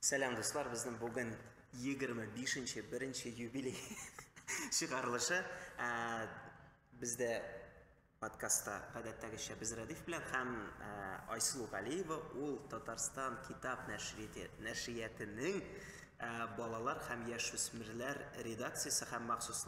Сәлам, дуслар, безнең бүген 25 нче беренче юбилей чыгарылышы. Ә, Бездә подкастта гадәттәгечә без Радиф белән һәм ә, Айсылу Галиева, ул Татарстан китап нәшрияте- нәшриятының ә, балалар һәм яшүсмерләр редакциясе һәм махсус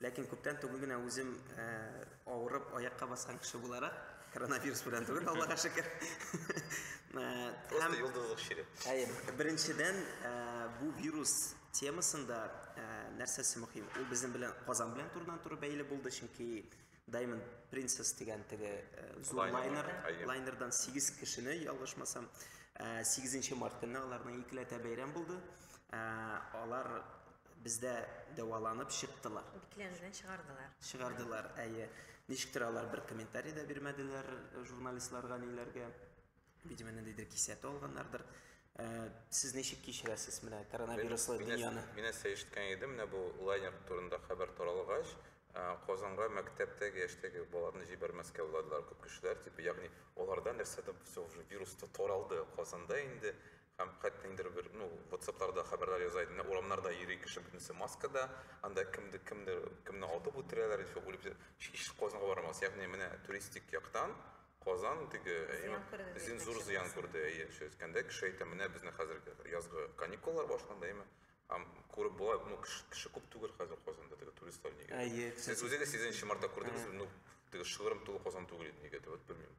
Ләкин күптән түгел генә үзем э, авырып аякка баскан кеше буларак, коронавирус белән түгел, Аллага шөкер. Э, Просто йолдызлык чире. Әйе, беренчедән, э, бу вирус темасында нәрсәсе мөһим? Ул безнең белән Казан белән турыдан туры бәйле булды, чөнки Diamond Princess дигән теге зур лайнер, лайнердан 8 кешене ялгышмасам, 8 март көнне аларның икеләтә бәйрәм булды. Алар Бездә дәваланып чыктылар. Бикләнүдән чыгардылар. Чыгардылар, әйе. Ничек тә алар бер комментарий да бирмәделәр э, журналистларга ниләргә. Видимо, ниндидер кисәтү алганнардыр. Э, сез ничек кичерәсез менә коронавируслы дөньяны? Мин нәрсә ишеткән идем, менә бу лайнер турында хәбәр таралгач, э, Казанга мәктәптәге яшьтәге балаларны җибәрмәскә уйладылар күп кешеләр, типа, ягъни аларда нәрсәдер все уже вирус таралды. Казанда инде Һәм кәттиңдер бер, ну, ватсапларда хәбәрләр яза идем, менә урамнарда йөри кеше бөтенесе маскада, анда кемдер кемдер кемне атып үтерәләр, ещё үлеп җ... Һич Казанга бармас, ягъни менә туристик яктан Казан теге зыян күрде, зин зур зыян күрде, әйе, шул әйткәндә кеше әйтә, менә безнең хәзерге язгы каникуллар башланды, әйеме? Һәм күреп була, ну, кеше күп түгел хәзер Казанда теге туристлар нигә? Әйе, кеше күп. Сез үзегез сигезенче мартта күрдегезме? Ну, теге шыгрым тулы Казан түгел иде, нигәдер, вот белмим.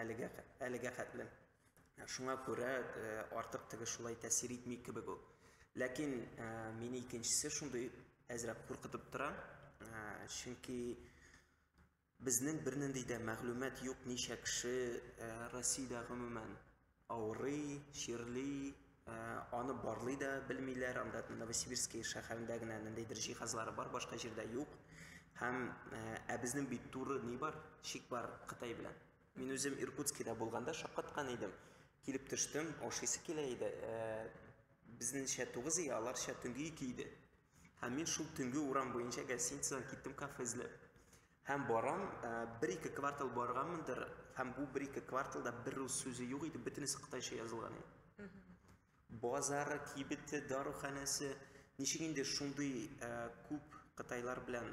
Әлегә әлегә хәтле. Шуңа күрә артык теге шулай тәэсир итми кебек ул. Ләкин мине икенчесе шундый әзрәк куркытып тора. Чөнки безнең бернинди дә мәгълүмат юк, ничә кеше Россиядә гомумән Авырый, чирли, аны барлый да белмиләр, анда Новосибирский шәһәрендә генә ниндидер җиһазлары бар, башка җирдә юк. Һәм ә безнең бит туры ни бар, шик бар Кытай белән. Мин үзем Иркутскида булганда шаккаткан идем. Килеп төштем, ашыйсы килә иде. Безнеңчә 9 ия, аларча төнге 2 иде. Һәм мин шул төнге урам буенча гостиницадан киттем кафе эзләп. Һәм барам, бер-ике квартал барганмындыр, һәм бу бер-ике кварталда бер рус сүзе юк иде, бөтенесе кытайча язылган иде. Базары, кибете, даруханәсе, ничек инде шундый күп кытайлар белән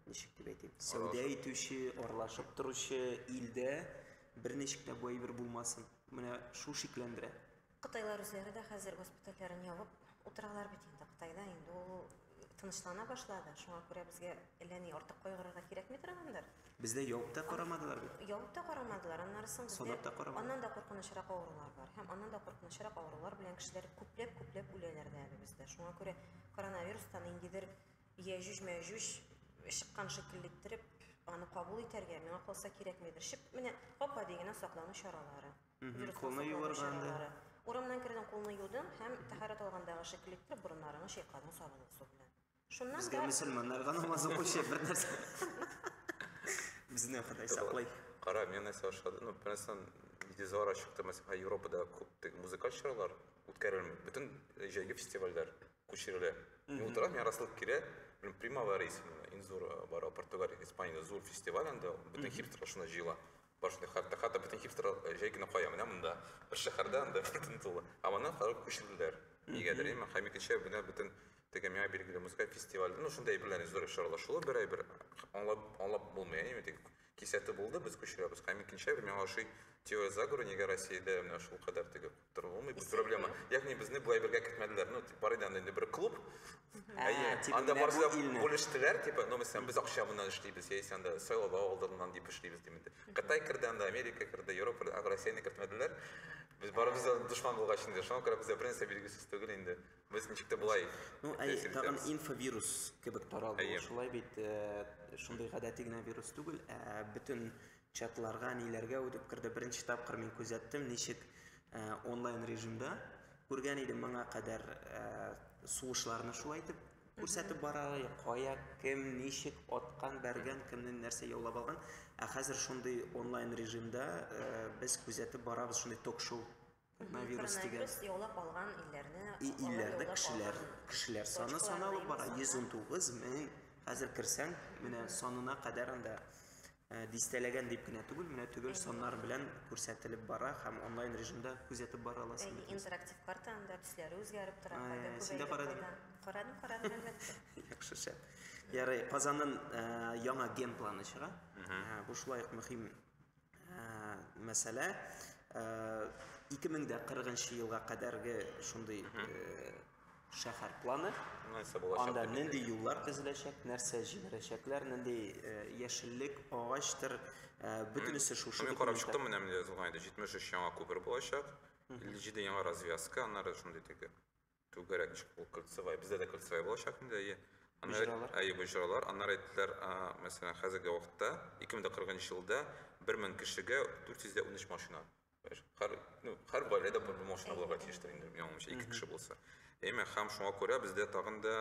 ничек дип әйтим, сәүдә итүче, аралашып торучы илдә бер ничек тә бу әйбер булмасын. Менә шул шикләндерә. Кытайлар үзләре дә хәзер госпитальләрен ябып утыралар бит инде. Кытайда инде ул тынычлана башлады. Шуңа күрә безгә әллә ни артык кайгырырга кирәкми торгандыр. Бездә явып та карамадылар бит. Явып та карамадылар, аннары соң бездә аннан да куркынычрак авырулар бар. Һәм аннан да куркынычрак авырулар белән кешеләр күпләп-күпләп үләләр дә әле бездә. Шуңа күрә коронавирустан ниндидер яҗүҗ-мәҗүҗ чыккан шикелле иттереп аны кабул итәргә, миңа калса, кирәкмидер. Шип менә гап-гади генә саклану чаралары. Вируслар саклану чаралары. Урамнан кердең, кулны юдың һәм тәһарәт алгандагы шикелле итеп борыннарыңны чайкадың сабынлы су белән. Шуннан Безгә да мөселманнарга намаз укучы бер нәрсә. Безне Ходай саклый. Кара, мен нәрсә ошады, ну, бернәрсән видеозалар чыкты, мәсәлән, Европада күп теге музыкаль чаралар үткәрелми. Бөтен җәйге фестивальләр күчерелә. Мин утырам, миңа расылып килә, блин, Примавера исемле, иң зур э, бар Португалия, Испаниядә зур фестиваль анда, бөтен хипстерлар шунда җыела. Башны хәтта хәтта бөтен хипстер җәй көне кая менә монда. Бер шәһәрдә анда бөтен тулы. Ә моннан хәзер күчерделәр. Нигәдер имма һәм икенче менә бөтен теге миңа билгеле музыка фестивале, ну шундый әйберләрне зур чаралашуы бер әйбер аңлап аңлап булмый, әйеме тик кисәтү булды, без күчерәбез. Һәм икенче әйбер миңа ошый теория заговора, нигә Россиядә менә шул кадәр теге Торылмый бу проблема. Ягъни безне бу әйбергә кертмәделәр. Ну, тип бар иде анда инде бер клуб. Әйе, анда барсы да бүлештеләр, типа, ну, мәсәлән, без акча моннан эшлибез, яисә анда сайлау алдыннан дип эшлибез дип инде. Кытай керде анда, Америка керде, Европа, ә Россияне кертмәделәр. Без барыбыз да дошман булгач инде, шуңа күрә бездә бернәрсә билгесез түгел инде. Без ничек тә болай. Ну, әйе, тагын инфовирус кебек таралды. Шулай бит, шундый гадәти генә вирус түгел, ә бөтен Чатларга, ниләргә үтеп керде, беренче тапкыр мин күзәттем, ничек онлайн режимда. Күргән идем моңа кадәр сугышларны шулай итеп күрсәтеп бара, кая, кем, ничек аткан, бәргән, кемнен нәрсә яулап алган. Ә хәзер шундый онлайн режимда без күзәтеп барабыз, шундый ток-шоу Коронавирус дигән. Коронавирус яулап алган илләрне И, алар илләрдә яулап кешеләр, алган кешеләр саны точкалар саналып дибез бара. анда. 119 мең. Хәзер керсәң, менә санына кадәр анда э, дистәләгән дип кенә түгел, менә төгәл саннар белән күрсәтелеп бара һәм онлайн режимда күзәтеп бара аласың. Әйе, интерактив карта анда төсләре үзгәреп тора. Ә, кайда син дә күбәя, карадың? кайда- Карадым, карадым, әлбәттә. Яхшы шәп. Ярый, Казанның э, яңа генпланы чыга. Ә, Бу шулай ук мөһим мәсьәлә 2040 елга кадәрге шундый шәһәр планы анда нинди юллар төзеләчәк нәрсә җимерәчәкләр нинди яшеллек агачтыр бөтенесе шушы мин карап чыктым менә менә язылган иде 73 яңа күпер булачак 57 яңа развязка аннары шундый теге Түгәрәк чуклы кольцевая. Бездә дә кольцевая булачак инде, әйе. Боҗралар. Әйе, боҗралар. Аннары әйттеләр, мәсәлән, хәзерге вакытта 2040 елда 1000 кешегә 413 машина. Һәр, ну, һәр гаиләдә бер машина булырга тиештер инде, яңамча, ике кеше булса. Әмма һәм шуңа күрә бездә тагын да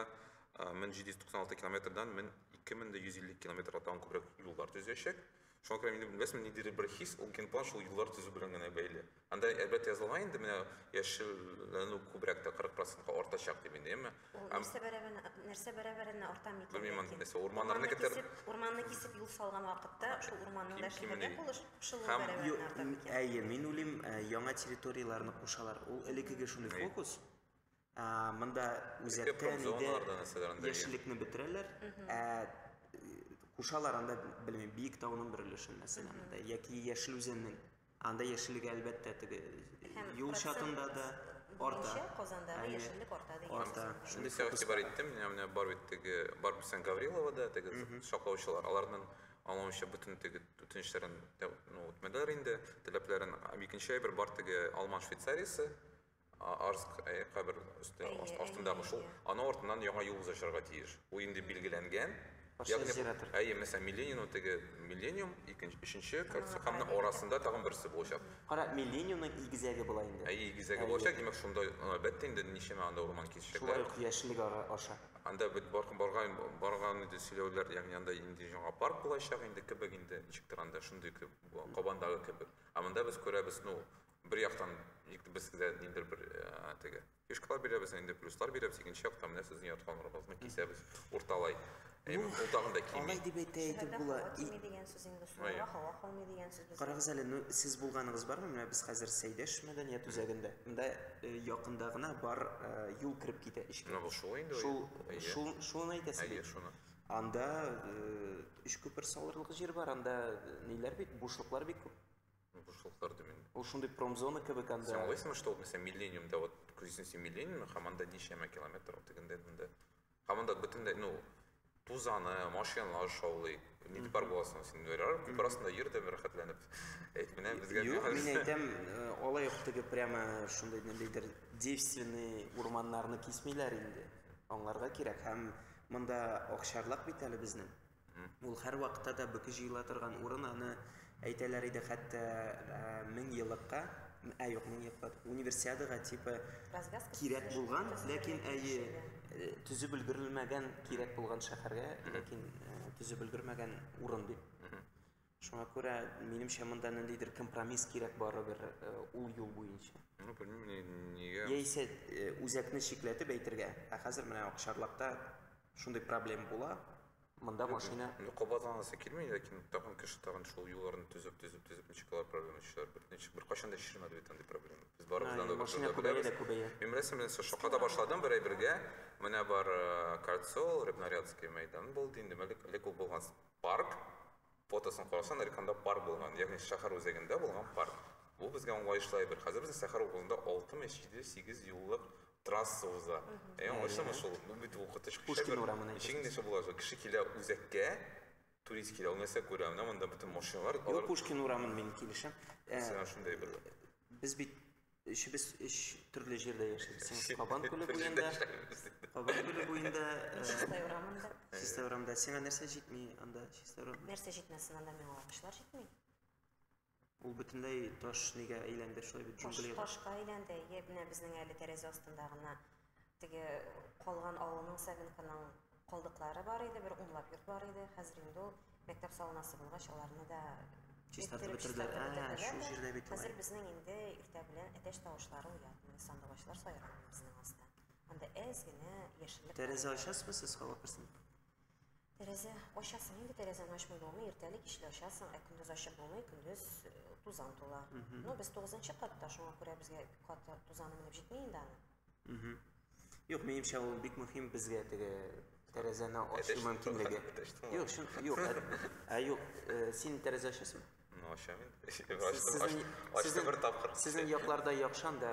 1796 километрдан 2150 километрга тагын күбрәк юллар төзәчәк. Шуңа күрә инде белмәсме, ниндидер бер хис, ул киноплан шул юллар төзү белән генә бәйле. Анда әлбәттә язылган инде менә яшелләнү күбрәк тә 40 процентка артачак дип инде, әмма нәрсә бәрәбәренә нәрсә бәрәбәренә арта микән? Белмим аны нәрсә, урманнарны китер. Урманны кисеп юл салган вакытта шул урманның да шикелле булыш шул бәрәбәренә арта микән? Әйе, мин уйлыйм, яңа территорияләрне кушалар. Ул элеккеге шундый фокус. Ә, монда үзәктә промзоналарда нәрсәләр анда дигән? яшеллекне бетерәләр. Ә кушалар анда, белмим, биек тауның бер өлешен мәсәлән, анда, яки яшел үзәннең. Анда яшеллеге әлбәттә теге Һәм юл процент чатында да арта. буенча Казанда да Әйе. яшеллек арта дигән Арта. сүз. Шундый Шундый сәгать фокуска. бар иттем, менә менә бар бит теге, бар бисән Гаврилова да, теге шаклаучылар. Аларның аңлавымча бөтен теге үтенечләрен тә- ну, үтмәделәр инде, теләпләрен. Һәм икенче әйбер бар теге алман швейцариясе, Арск кабер өсте астындагы шул. Аны артыннан яңа юл узачарга тиеш. Бу инде билгеләнгән. Ягъни әйе, мәсәлән, Миллениум теге Миллениум, икенче, өченче кольцо һәм арасында тагын берсе булачак. Кара, Миллениумның игезәге була инде. Әйе, игезәге булачак, димәк, шунда әлбәттә инде ничәмә анда урман кисәчәкләр. Шулай ук яшеллек аша. Анда бит барган барган иде сөйләүләр, ягъни анда инде яңа парк булачак инде кебек инде, ничектер анда шундый кебек, Кабандагы кебек. Ә монда без күрәбез, ну, бер яктан ник безгә дә ниндер бер э, теге фишкалар бирәбез нинди плюслар бирәбез икенче яктан менә сезнең ятканнарыгызны кисәбез урталай әйе ул тагын да кими алай дип әйтә әйтеп була кими дигән сүз инде шуңа һава калмый дигән сүз без карагыз әле ну сез булганыгыз бармы менә без хәзер сәйдәш мәдәният үзәгендә монда э, якында гына бар э, юл кереп китә эчке менә бу шул инде шул шул шуны әйтәсез әйе шуны анда өч күпер салырлык җир бар анда ниләр бит бушлыклар бик күп Бушлыклар димен. Ул шундый промзона кебек анда. Син аңлыйсыңмы, что вот мәсәлән Миллениумда вот күрсен син Миллениумны, һәм анда ничәмә километр ул тегендә монда. Һәм анда бөтенләй, ну, тузаны, машиналар шаулый. Нидә бар буласың син? Ярар, күп арасында йөр дә рәхәтләнеп. Әйт менә безгә. Юк, мин әйтәм, э, алай ук теге прямо шундый ниндидер девственный урманнарны кисмиләр инде. Аңларга кирәк һәм монда акчарлак бит әле безнең. Ул һәрвакытта да бөке җыела торган урын, аны әйтәләр иде хәтта меңьеллыкка, ә юк, меңьеллыкка, универсиадага типа кирәк булган, ләкин әйе, төзеп өлгерелмәгән кирәк булган шәһәргә, ләкин төзеп өлгермәгән урын дип. Шуңа күрә, минемчә, монда ниндидер компромисс кирәк барыбер э, ул юл буенча. Ну, белмим, ни- нигә. Яисә э, үзәкне чикләтеп әйтергә. Ә хәзер менә Акшарлакта шундый проблем була. Монда машина Ну, кабатланасы килми, ләкин тагын кеше тагын шул юлларны төзеп, төзеп, төзеп, ничек алар проблема чыгар. Бер, ничек, бер кайчан да чишелмәде бит андый проблема. Без барыбыз Ай, анда бер машина турыда күбәя беләбез. дә күбәя. Мин рәсем белән со- шакада башладым бер ай бергә. Менә бар э, Кольцо, Рыбнарядский мәйдан булды инде, әле, әле күп булган. Парк фотосын карасаң, Нариканда парк булган, ягъни шәһәр үзәгендә булган парк. Бу безгә аңлаешлы әйбер. Хәзер безнең сәхәр укуында алтымы җиде, сигез юллык трасса уза. Әй, аңлыйсыңмы шул? Бу бит укытыч кеше Пушкин әйбер. урамын Ничек әйтәсез. инде шул була шул? Кеше килә үзәккә, турист килә, ул нәрсә күрә? Менә монда бөтен машиналар, Юк, алар Пушкин урамын мин килешәм. Ә, Мәсәлән, шундый әйбер. без бит Өчебез өч төрле җирдә яшибез. Син Кабан күле буенда, Кабан күле буенда, Чистай урамында. Чистай урамында. Сиңа нәрсә җитми анда, Чистай урамында? Нәрсә җитмәсен анда миңа агачлар җитми. Ул бөтенләй таш нигә әйләнде шулай бит җунглига. Ташка әйләнде. Йә менә безнең әле тәрәзә астында гына Теге калган авылның Савенконың калдыклары бар иде, бер унлап йорт бар иде. Хәзер инде ул мәктәп салынасы булгач, аларны да Чистартып бетерделәр. Ә, шул җирдә бит Хәзер безнең инде иртә белән әтәч тавышлары уятмый, сандугачлар сайрамый безнең аста. Анда әз генә яшеллек. Тәрәзә ачасызмы сез, һава керсен? Тәрәзә ачасың, инде тәрәзәне ачмый булмый, иртәли кичле ачасың, ә көндез ачып булмый, көндез э, тузан тула. Но без тугызынчы катта, шуңа күрә безгә кат тузаны менеп җитми инде аны. Юк, минемчә ул бик мөһим безгә теге тәрәзәне ачу мөмкинлеге. Юк, шын, юк, ә, ә юк, э, син тәрәзә ачасыңмы? Ачам инде. Ачты бер тапкыр. Сезнең якларда яхшан да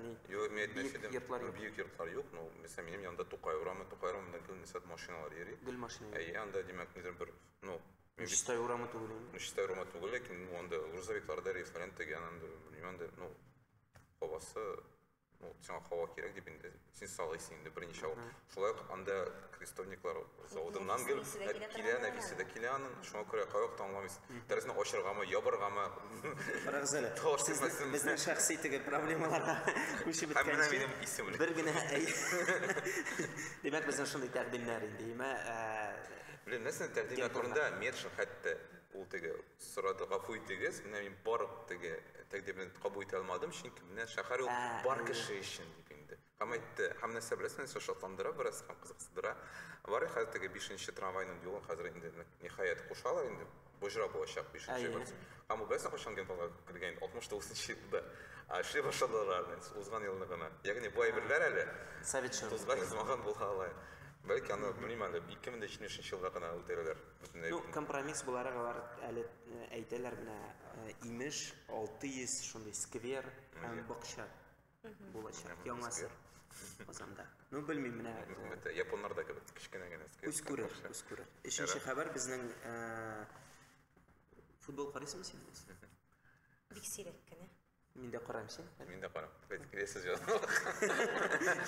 ни? Юк, мин әйтмәс идем. Йортлар юк. Бик йортлар юк, но мисал минем янда Тукай урамы, Тукай урамында гел мисал машиналар йөри. Гел машина. Әй, анда димәк, нидер бер, ну, Чистай урамы түгел. Чистай урамы түгел, ләкин анда грузовикларда рейсларын тегән, анда, ну, хавасы ну, сиңа һава кирәк дип инде син салыйсың инде берничә ел шулай ук анда крестовниклар заводыннан кел килә нәфисе дә килә аның шуңа күрә каяк таңламыйсың тәрәзәне ачыргамы ябыргамы карагыз әле безнең шәхси теге проблемаларга күчеп беткәнче бер генә димәк безнең шундый тәкъдимнәр инде имә белән нәрсә тәкъдимнәр турында метшин хәтта ул теге Сорады, гафу итегез, менә мин бар теге тәкъдимне кабул итә алмадым, чөнки менә шәһәр ул бар кеше өчен дип инде. Һәм әйтте, һәм нәрсә беләсең, нәрсә шатландыра бераз һәм кызыксындыра. Бар хәзер теге 5-нче трамвайның юлын хәзер инде ниһаять кушалар инде. Боҗра булачак 5-нче год. Һәм бу бәс кайчан генпланга кергән 69-нчы елда. А эшли башладылар инде узган елны гына. Ягъни бу әйберләр әле Совет чоры. Тузга язмаган була ала. Бәлки аны, белмим әле, 2070 елда гына үтерәләр. Ну, компромисс буларак алар әле э, әйтәләр менә э, имеш 600 шундый сквер һәм бакча булачак яңасы Казанда. Ну, белмим менә. Э, японнар да кебек кечкенә генә сквер. Күз күрер, күз күрер. Өченче хәбәр безнең футбол карыйсыңмы син? Бик сирәк кенә. Мин дә карам син. Мин дә карам. Бит киләсе җан.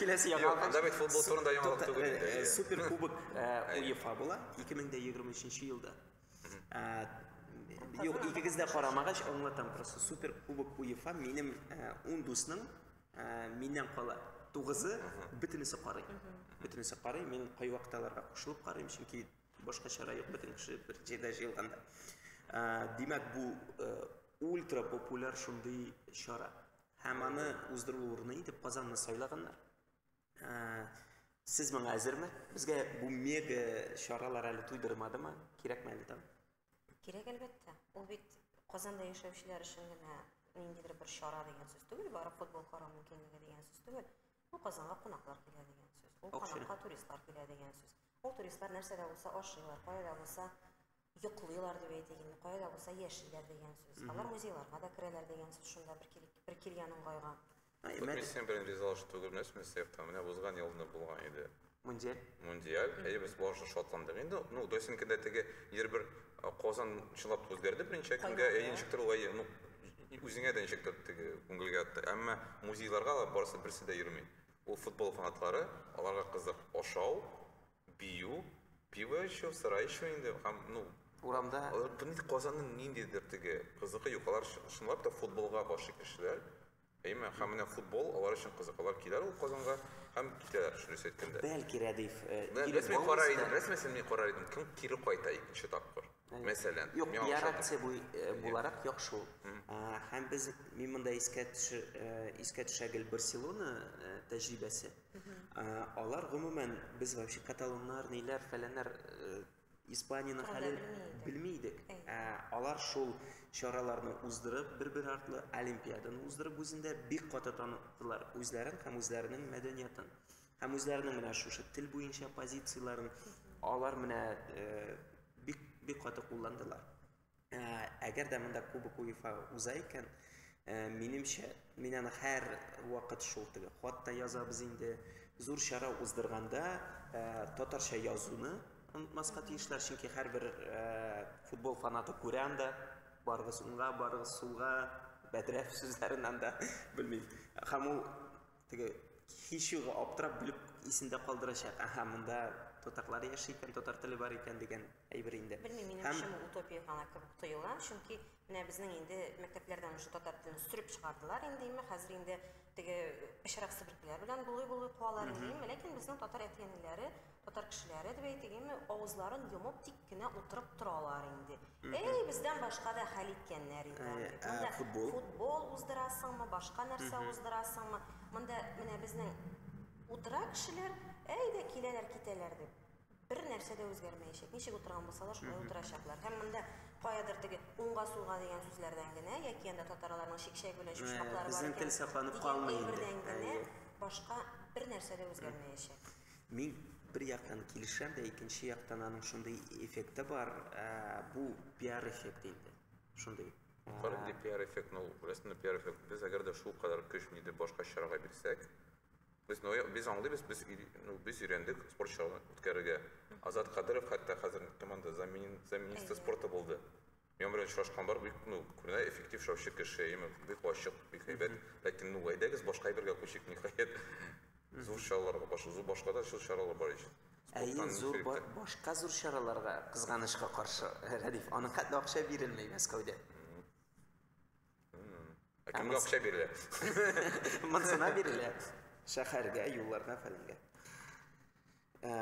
Киләсе яңа. Юк, анда бит футбол турында яңалык түгел инде. Э, супер кубок э, УЕФА була 2023 елда. Э, юк, икегез дә карамагач аңлатам просто. Супер кубок УЕФА минем 10 дусның миннән кала тугызы бөтенесе карый. Бөтенесе карый. Мин кайвакталарга кушылып карыйм, чөнки башка чара юк, бөтен кеше бер җирдә җыелганда. Димәк, бу Ультра популяр шундый чара. Һәм аны уздыру урыны итеп Казанны сайлаганнар. Ә, сез моңа әзерме? Безгә бу мега чаралар әле туйдырмадымы? Кирәкме әле там? Кирәк әлбәттә. Ул бит Казанда яшәүчеләр өчен генә ниндидер бер чара дигән сүз түгел, барып футбол карау мөмкинлеге дигән сүз түгел. Ул Казанга кунаклар килә дигән сүз. Ул Акча. кунакка туристлар килә дигән сүз. Ул туристлар нәрсәдә булса ашыйлар, каяда булса йоклыйлар дип әйтик инде, кая да булса яшиләр дигән сүз. Алар музейларга да керәләр дигән сүз шунда бер, кил, бер килгән уңгайга. Күпме сен белән ризалашып түгелмес, Мөстәфта, менә узган ел да булган иде. Мундиаль. Мундиаль, әйе, без барышы шатландык. Инде, ну, Досинкада теге ир бер Казан чылап үзгәрде беренче көнгә, әйе, ничектер ул, әйе, ну, үзеңә дә ничектер теге күңелгә атты. Әмма музейларга да барысы берсе дә йөрми. Ул футбол фанатлары, аларга кызык ашау, Бию, пиво эчү, сыра эчү инде һәм, ну. Урамда. Казанның ниндидер теге кызыгы юк. Алар чынлап та футболга гашыйк кешеләр. Әйме? Һәм менә футбол алар өчен кызык. Алар киләр ул Казанга һәм китәләр, дөрес әйткәндә. Бәлки Рәдиф килеп булмас та. Рәсмиясен мин карар идем, кем кире кайта икенче тапкыр. Мәсәлән, Юк, миңа ошады. реакция буй- э, буларак яхшы ул. А, Һәм без, мин монда искә төшер, э, искә төшә гел Барселона э, тәҗрибәсе. А, Алар гомумән без вообще каталоннар, ниләр, фәләннәр э, Испаниянең Турында хәлен белми идек. белми идек. Әйе. Ә, Алар шул чараларны уздырып, бер-бер артлы олимпиаданы уздырып үзендә бик каты таныттылар үзләрен һәм үзләренең мәдәниятен. Һәм үзләренең менә шушы тел буенча позицияләрен алар менә бик бик каты кулландылар. Әгәр дә монда Кубок УЕФА уза икән, минемчә, мин аны һәр вакыт шул теге хатта язабыз инде. Зур чара уздырганда татарча язуны онытмаска тиешләр, чөнки һәрбер футбол фанаты күрә анда барыгыз уңга, барыгыз сулга, бәдрәф сүзләрен анда белмим. Һәм ул Теге һичюгы аптырап белеп исендә калдырачак. Аһа, монда татарлар яши икән, татар теле бар икән дигән әйбер инде. Белмим, минем Һәм... өчен утопия гына кебек тоела, чөнки менә безнең инде мәктәпләрдән уже татар телен сүреп чыгардылар инде, име хәзер инде теге пешерак себеркеләр белән булый-булый куалар инде, име, ләкин безнең татар әти-әниләре Татар кешеләре дип әйтегеме, авызларын йомып тик кенә утырып торалар инде. Әй, бездән башка да хәл иткәннәр инде. Әйе, ә Монда футбол? футбол уздырасыңмы, башка нәрсә уздырасыңмы? Монда менә безнең утыра кешеләр, әй дә киләләр, китәләр дип. Бер нәрсә дә үзгәрмәячәк. Ничек утырган булсалар, шулай утырачаклар. Һәм монда каядыр теге уңга сулга дигән сүзләрдән генә, яки анда татарларның шикшәй белән чучмаклары бар безнең икән, тел сакланып дигән калмый инде. әйбердән генә Әйе. башка бер нәрсә дә үзгәрмәячәк. Мин бер яктан килешәм дә, икенче яктан аның шундый эффекты бар, ә, бу пиар эффекты инде. Шундый. Бар инде пиар эффект, ну, рәсмендә пиар эффект. Без әгәр дә шул кадәр көч нидер башка чарага бирсәк, без ну, без аңлыйбыз, без ну, без өйрәндек спорт чараларын үткәрергә. Азат Кадыров хәтта хәзер команда замени, замениста спорта булды. Миңа белән очрашкан бар, бик ну, күренә эффектив шаучы кеше, имя, бик ачык, бик һәйбәт, ләкин ну, әйдәгез башка әйбергә күчик, ниһаять, зур чараларга, баш, зур башка да чур чаралар бар ич. Әйе, Спорттан зур ничек ба, башка зур чараларга, кызганычка каршы, Рәдиф, аның хәтле акча бирелми Мәскәүдә. Ә кемгә акча бирелә? Монсына бирелә. Шәһәргә, юлларга, фәләнгә. Ә,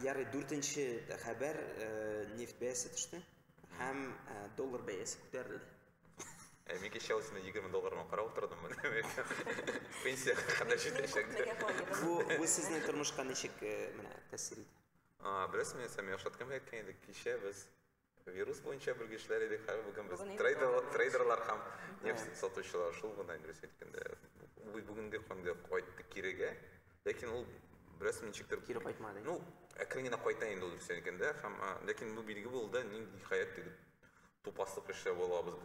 ярый, дүртенче хәбәр ә, нефть бәясе төште һәм ә, доллар бәясе күтәрелде. Ә мин кеше алысында 20 долларга карап утырдым. Пенсия хакында җитәчәк. Бу бу сезнең тормышка ничек менә тәэсир итә? А, беләсеңме, Сәмия, Шаткан әйткән иде, кичә без Вирус буенча белгечләр идек, хәзер бүген без трейдерлар һәм нефть сатучылар, шул гына инде рус әйткәндә. Бу бүгенге көнгә кайтты кирегә, ләкин ул бераз ничектер кире кайтмады. Ну, әкрен генә кайта инде ул рус әйткәндә, һәм ләкин бу билге булды, нинди хәят диде. Тупаслык эшләп алабыз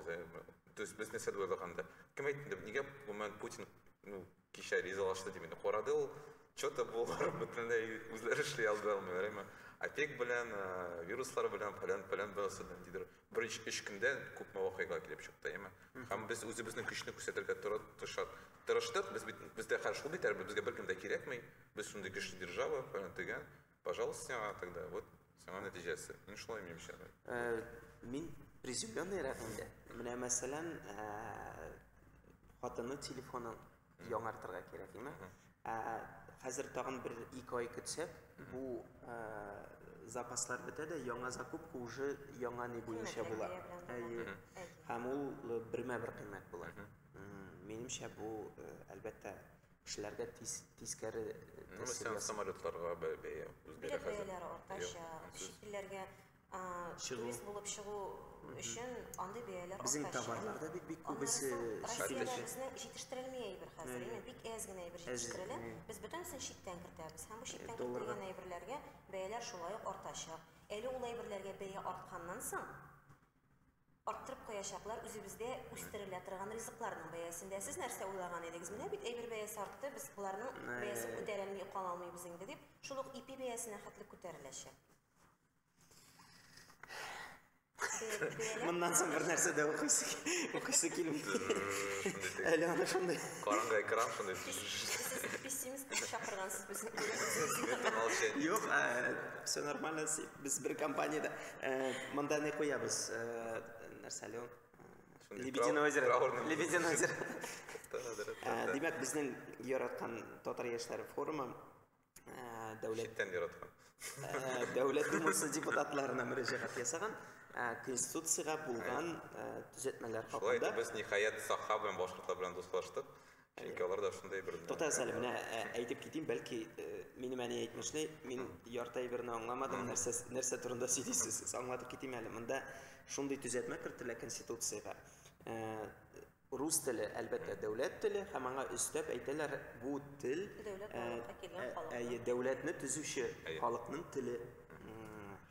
без. Без нәрсә дә уйлаганда. Кем әйтте, нигә гомумән Путин, ну, Кичә ризалашты дип инде карады ул. Что-то булар бөтенләй үзләре эшли алды алмыйлар, әмма опек белән, э, вируслар белән, фәлән фәлән бәләсе белән дидер. Беренче өч көндә күпме вакыйга килеп чыкты, әмма һәм без үзебезнең көчне күрсәтергә тора- тырышат. Тырыштык, без бит бездә хәл шул бит әле, безгә беркем дә кирәкми. Без шундый көчле держава, фәлән тегән. Пожалуйста сиңа тогда, вот сиңа нәтиҗәсе. Мин шулай уйныйм эчә. Э, мин приземленный рәвендә. Менә мәсәлән, э, хатыны телефонын яңартырга кирәк, димә. Э, хәзер тагын бер ике ай көтсәк, бу запаслар бетә дә, яңа закупка уже яңа ни буенча була. Әйе. Һәм ул бермә-бер кыйммәт була. Минемчә бу, әлбәттә, Кешеләргә тис, тискәре Ну, мәсәлән, самолетларга бә- бәя үзгәрә Билет хәзер. бәяләре артачак, Юк, сез- чит илләргә а, Чыгу. турист булып чыгу өчен андый бәяләр Безнең артачак. товарлар да бит бик Аннары күбесе соң чит Россиядә илләрдә. безне җитештерелми әйбер хәзер, Әйе. именно бик әз генә әйбер Әз, җитештерелә. әйе. Без бөтенесен читтән кертәбез. Һәм бу читтән долларга. кертелгән әйберләргә бәяләр шулай ук артачак. Әле ул әйберләргә бәя артканнан соң, Арттырып куячаклар үзебездә үстерелә торган ризыкларның бәясендә. Сез нәрсә уйлаган идегез? Менә бит әйбер бәясе артты, без боларның бәясен күтәрәлми калалмыйбыз инде, дип, шул ук ипи бәясенә хәтле күтәреләчәк. Моннан соң бер нәрсә дә укыйсы, укыйсы килми. Әле аны шундый. Караңгы экран шундый. Пессимист чакыргансыз безне. Юк, все нормально, Без бер компаниядә э, монда не куябыз, э, нәрсә әле ул? Э, Лебединое озеро. Лебединое озеро. Э, димәк, безнең яраткан татар яшьләре форумы э, дәүләт читтән яраткан. Э, дәүләт думасы депутатларына мөрәҗәгать ясаган конституциягә булган төзәтмәләр хакында. Шулай да без ниһаять Саха белән башкортлар белән дуслаштык. Чөнки алар да шундый бер. Туктагыз әле, менә әйтеп китим, бәлки минем әни әйтмешли, мин ярты әйберне аңламадым, нәрсә, нәрсә турында сөйлисез, аңлатып китим әле. Монда шундый төзәтмә кертелә Конституциягә. Рус теле, әлбәттә, дәүләт теле, һәм аңа өстәп әйтәләр, бу тел әйе, дәүләтне төзүче халыкның теле.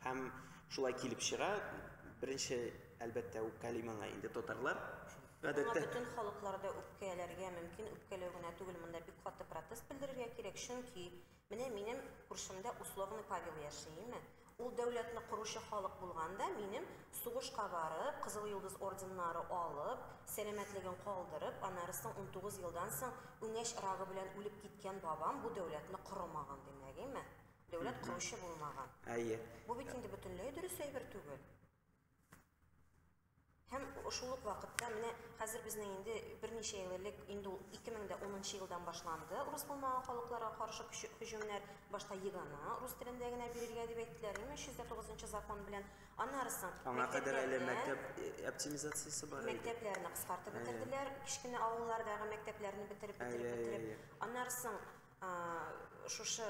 Һәм шулай килеп чыга, беренче, әлбәттә, үпкәли моңа инде татарлар, Гадәттә. Моңа бөтен халыклар да үпкәләргә мөмкин, үпкәләү генә түгел, монда бик каты протест белдерергә кирәк, чөнки менә минем күршемдә условный Павел яши, име? Ул дәүләтне коручы халык булган да, минем сугышка барып, Кызыл Йолдыз орденнары алып, сәламәтлеген калдырып, аннары соң унтугыз елдан соң үңәч рагы белән үлеп киткән бабам бу дәүләтне корымаган, димәк, име? Дәүләт коручы булмаган. Әйе. Бу бит инде бөтенләй дөрес әйбер түгел. Һәм шул ук вакытта менә хәзер безнең инде берничә ел элек, инде ул 2010 нчы елдан башланды, урыс булмаган халыкларга каршы һөҗүмнәр, башта ЕГЭны рус телендә генә бирергә дип әйттеләр, 2309 нчы закон белән, аннары соң Аңа кадәр әле мәктәп оптимизациясе бар иде. Мәктәпләрне кыскартып бетерделәр, кечкенә авыллардагы мәктәпләрне бетереп, бетереп, бетереп. Аннары соң шушы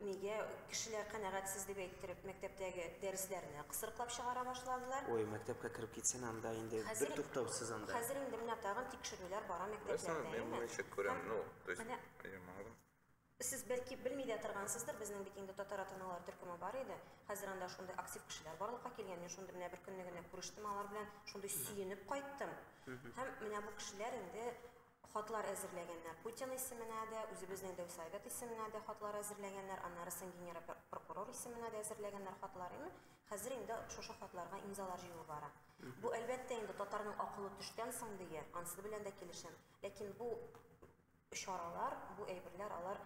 Нигә кешеләр канәгатьсез дип әйттереп мәктәптәге дәресләрне кысрыклап чыгара башладылар? Ой, мәктәпкә кереп китсен анда инде Хәзер- бер туктаусыз анда. Хәзер инде менә тагын тикшерүләр бара Весна, мәктәпләрдә, мен әйеме? моны ничек күрәм, Һәм ну, то есть, менә әйе, маңгым. Сез бәлки белми дә торгансыздыр, безнең бит инде татар ата-аналар төркеме бар иде. Хәзер анда шундый актив кешеләр барлыкка килгән. Мин шундый менә беркөнне генә күрештем алар белән, шундый сөенеп кайттым. Һәм менә бу кешеләр инде Хатлар әзерләгәннәр. Путин исеменә дә, үзебезнең дәү Совет исеменә дә хатлар әзерләгәннәр, аннары соң генерал-прокурор исеменә дә әзерләгәннәр хатлар. Ин, хәзер инде шушы хатларга имзалар җыюы бара. Бу, әлбәттә инде, татарның акылы төштән соң дия, ансы белән дә килешәм. Ләкин бу чаралар, бу әйберләр, алар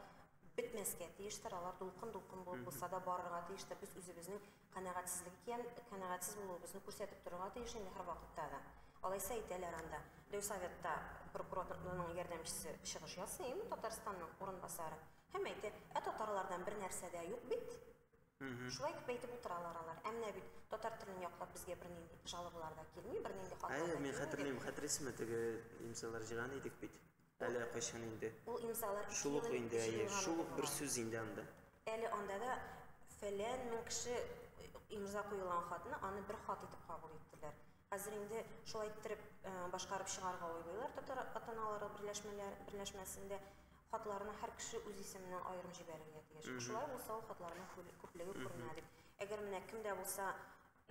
бетмәскә тиештер, алар дулкын-дулкын булып булса да барырга тиештер. Без үзебезнең Канәгатьсезлек икән, канәгатьсез булуыбызны күрсәтеп торырга тиеш инде һәрвакытта да. Алайса әйтәләр анда, Дәү Советта прокураторның ярдәмчесе чыгыш ясый, имин Татарстанның урынбасары, һәм әйтә, Ә татарлардан бер нәрсә дә юк бит. Шулай итеп әйтеп утыралар алар. Ә менә бит татар телен яклап безгә бернинди жалобалар да килми, бернинди хатлар да килми. Әйе, мин хәтерлим, хәтерлисезме, теге немцалар җыйган идек бит. Әле кайчан инде? Ул имзалар Шул ук инде, әйе. Шул ук бер сүз инде анда. Әле анда да фәлән мең кеше имза куелган хатны аны бер хат итеп кабул иттеләр. Хәзер инде шулай иттереп э, башкарып чыгарга уйлыйлар татар атаналары берләшмәләр берләшмәсендә хатларны һәр кеше үз исеменнән аерым җибәрергә тиеш. Шулай булса ул хатларның күплеге күренә дип. Әгәр менә кемдә булса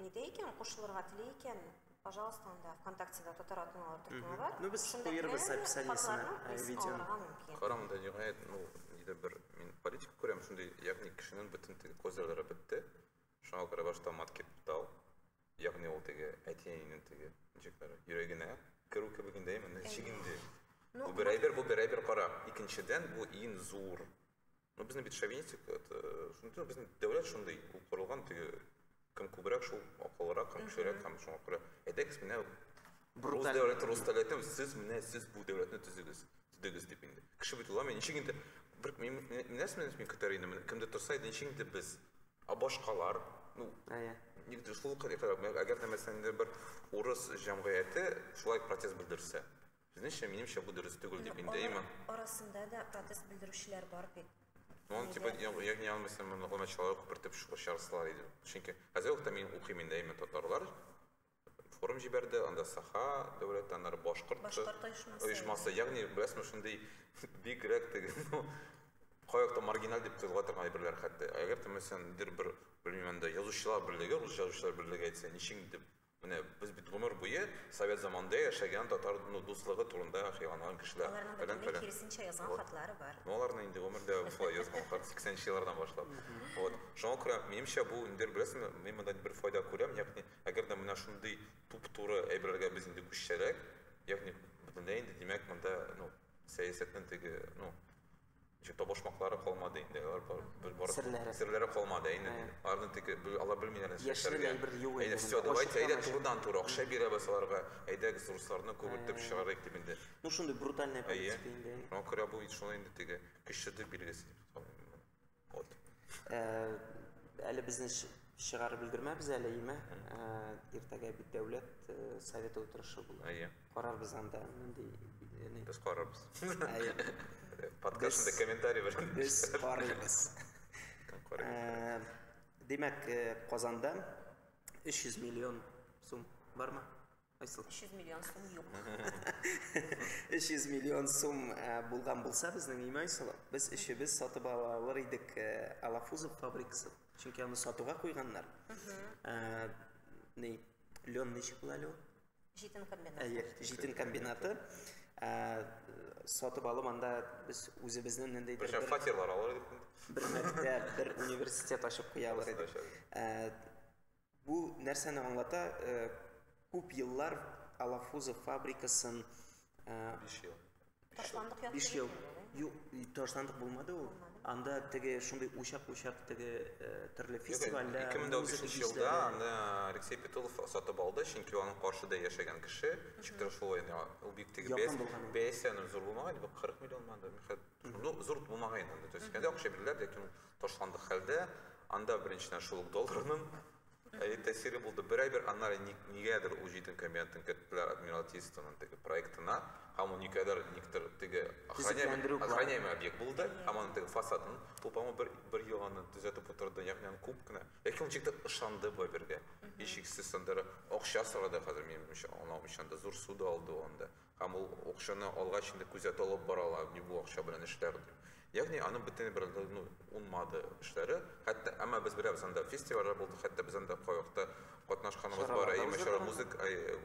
Әйдә икән, кушылырга тели икән, пожалуйста, анда ВКонтактеда татар атналары төркеме бар. Ну, без Шунда куербыз кемнәр описаниесенә, хатларның э, призын видеоны. алырга мөмкин. Карам да ниһаять, ну, нидер бер мин политика күрәм шундый, ягъни кешенең бөтен теге козырлары бетте. Шуңа күрә башта мат кипитал, ягъни ул теге әти-әнинең теге ничекләре йөрәгенә керү кебегендә именно чигенде. Ну, Бу бер әйбер, бу бер әйбер кара. Икенчедән, бу иң зур Ну, безнең бит шовинистик, шундый, безнең дәүләт шундый, ул корылган теге, кем күбрәк шул акыллырак, кем кешерәк, һәм шуңа күрә, әйдәгез менә, рус дәүләте, рус дәүләте, сез менә, сез бу дәүләтне төзегез, төзегез дип инде. Кеше бит уламый, ничек инде, бер, мин, нәрсә менә мин көтәр идем, кемдер торса иде, ничек инде без, а башкалар, ну, әйе, нигде шул кадәр, әгәр дә мәсәлән бер урыс җәмгыяте шулай протест белдерсә, Безнеңчә, минемчә, бу дөрес түгел дип инде, әйме? Арасында да протест белдерүчеләр бар бит. Ну, он, типа, ягни аны мәсәлән, монда гына чалай күпертеп чыгарсалар иде. Чөнки хәзер вакытта мин укыйм инде, әйме, татарлар форум җибәрде, анда Саха дәүләт, аннары башкорт, башкорт оешмасы. Оешмасы, ягни, беләсезме, шундый бигрәк теге, ну, каякта маргиналь дип кызга торган әйберләр хәтта. Әгәр тә мәсәлән, бер, белмим, анда язучылар берлеге, рус язучылар берлеге әйтсә, ничек дип Менә без бит гомер буе совет заманында яшәгән татар дуслыгы турында хыялланган кешеләр. Аларның бөтенләй киресенчә язган хатлары бар. Ну аларны инде гомердә шулай язган хат 80 нче еллардан башлап. Вот. Шуңа күрә минемчә бу инде беләсеңме, мин монда бер файда күрәм, ягъни әгәр дә менә шундый туп-туры әйберләргә без инде күчсәләр, ягъни бөтенләй инде димәк монда, ну, сәясәтнең теге, ну, Чөнки табышмаклары калмады инде, алар бер бары серләре, серләре калмады, әйне. Аларны тик алар белмиләр нәрсә эшләргә. Яшьләр бер юк инде. Все, давайте, әйдә турыдан тур акча бирәбез аларга. Әйдәгез, русларны күбертеп чыгарыйк дип инде. Ну шундый брутальная политика инде. Әйе. Ну күрә бу бит шулай инде теге кешеде билгесе. Вот. Э, әле безне чыгарып өлгермәбез әле, име? Иртәгә бит дәүләт э, советы утырышы була. Әйе. Карарбыз анда нинди яни. Без карарбыз. Әйе. Подкастында комментарий белән. Без карыйбыз. Э, димәк, э, Казанда 300 миллион сум бармы? Айсыл. 300 миллион сум юк. 300 миллион сум э, булган булса безнең имя Айсыл. Без өчебез сатып алалар идек Алафузов фабрикасы. Чөнки аны сатуга куйганнар. Э, ни, Леон ничек була Леон? Җитен комбинаты. Әйе, җитен комбинаты. Сатып алып анда без үзебезнең нендей бер фатирлар алар идек. Бер мәктәп, бер университет ачып куялар идек. Бу нәрсәне аңлата? Күп еллар Алафузов фабрикасын 5 ел. Ташландык ят Биш ел. Юк, ташландык булмады ул. Анда теге шундый учак-учак теге э, төрле фестивальдә. 2015 елда аны Алексей Петулов сатып алды, чөнки аның каршыда яшәгән кеше ничектер шулай ул бик теге бәясе бәясенең зур булмаган, 40 миллион манда, ну зур булмаган инде. То есть кәдә акча бирделәр, ләкин ташландык хәлдә анда беренчедән шул долларның Әйе, тәэсире булды. Бер ай бер, аннары ник, нигәдер ул җитен комбинатын керттеләр адмиралтействоның теге проектына, һәм ул никадәр никтер теге Төзекләндерү планы. охраняемый объект булды, һәм аның теге фасадын ул, по-моему, бер, бер ел аны төзәтеп утырды, ягъни аны күп кенә. Ләкин ул ничектер ышанды бу әйбергә. Һичшиксез андыра акча сорады хәзер, минем уйымча, аңлавымча, анда зур суда алды ул анда. Һәм ул акчаны алгач инде күзәтү алып баралар, ни бу акча белән эшләр дип. Ягъни аның бөтенләй бер ну, унмады эшләре. Хәтта әмма без беләбез анда фестивальләр булды, хәтта без анда кайвакытта катнашканыбыз бар. Әй мәшәра музык,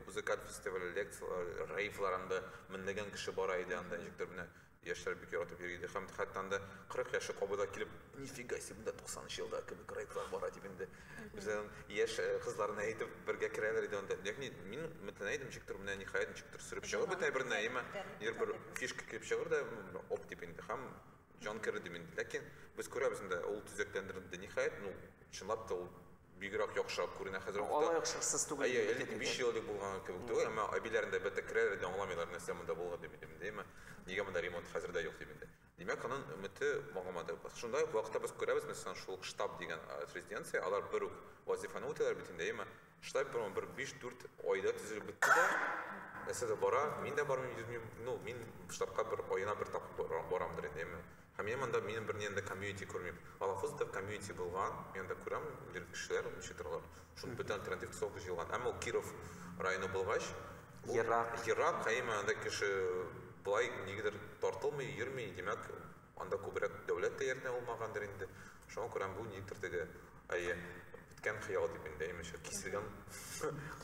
музыкаль фестиваль, лекцияләр, рейвлар анда меңләгән кеше бара иде анда ничектер менә Яшьләр бик яратып йөри иде һәм хәтта анда 40 яше кабы да килеп, нифига себе, монда 90 нчы елда кебек райдлар бара дип инде. Үзләрен яшь э, кызларына әйтеп бергә керәләр иде анда. Ягъни мин өметләнә идем, ничек төр менә ниһаять ничек төр сөреп чыгып бетә бер нәймә. Ир бер фишка килеп чыгыр да оп дип инде һәм җан керде инде. Ләкин без күрәбез инде ул төзекләндерелде. Ниһаять, ну чынлап та ул Бигрәк яхшырак күренә хәзер вакытта. Алай ук шыксыз түгел. Әйе, 55 ел элек булган кебек түгел, әмма әбиләрен дә бәтәк керәләр дә аңламыйлар, нәрсә монда булган дип инде, димме? Нигә монда ремонт хәзер дә юк дип инде. Димәк, аның өмете багымады. Шунда ук вакытта без күрәбез, мәсәлән, шул ук штаб дигән резиденция, алар бер үк вазифаны үтиләр бит инде, әйеме? Штаб бер бер 5-4 айда төзелеп бетте дә, нәрсә дә бара, мин дә бармыйм, йөрмим, ну, мин штабка бер аена бер тапкыр барамдыр инде, әйеме? Һәм мин монда минем берни анда комьюнити күрмим. Алафуз да комьюнити булган, мин анда күрәм, бер кешеләр ничек торалар. Шуның бөтен альтернатив тусовка җыелган. Әмма ул Киров районы булгач, ерак, ерак, әйме анда кеше болай нигедер тартылмый, йөрми, димәк, анда күбрәк дәүләт тә ярдәм булмагандыр инде. Шуңа күрә бу нидер теге, әйе, беткән хыял дип инде, әйме, киселгән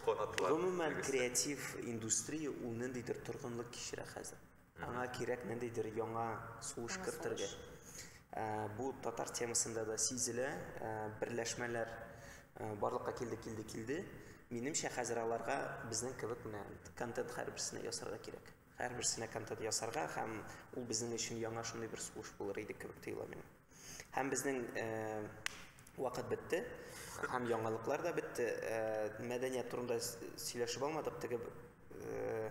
канатлар. Гомумән, креатив индустрия ул ниндидер торгынлык кичерә хәзер. Аңа кирәк ниндидер яңа сулыш кертергә. Ә, бу татар темасында да сизелә, ә, берләшмәләр ә, барлыкка килде, килде, килде. Минемчә, хәзер аларга безнең кебек менә контент һәрберсенә ясарга кирәк. Һәрберсенә контент ясарга һәм ул безнең өчен яңа шундый бер сулыш булыр иде кебек тоела миңа. Һәм безнең ә, вакыт бетте, һәм яңалыклар да бетте. Ә, мәдәният турында сөйләшеп алмадык, теге ә,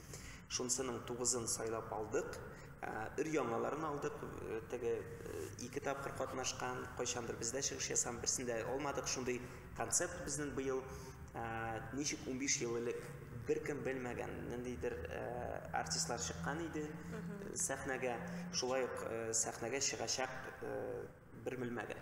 Шунсының тугызын сайлап алдык. Ә, Өр-яңаларын алдык. Э, теге э, ике тапкыр катнашкан, кайчандыр бездә чыгыш ясаган, берсен дә алмадык. Шундый концепт безнең быел. Ә, Ничек 15 ел элек беркем белмәгән ниндидер э, артистлар чыккан иде э, сәхнәгә, шулай ук э, сәхнәгә чыгачак э, бер белмәгән.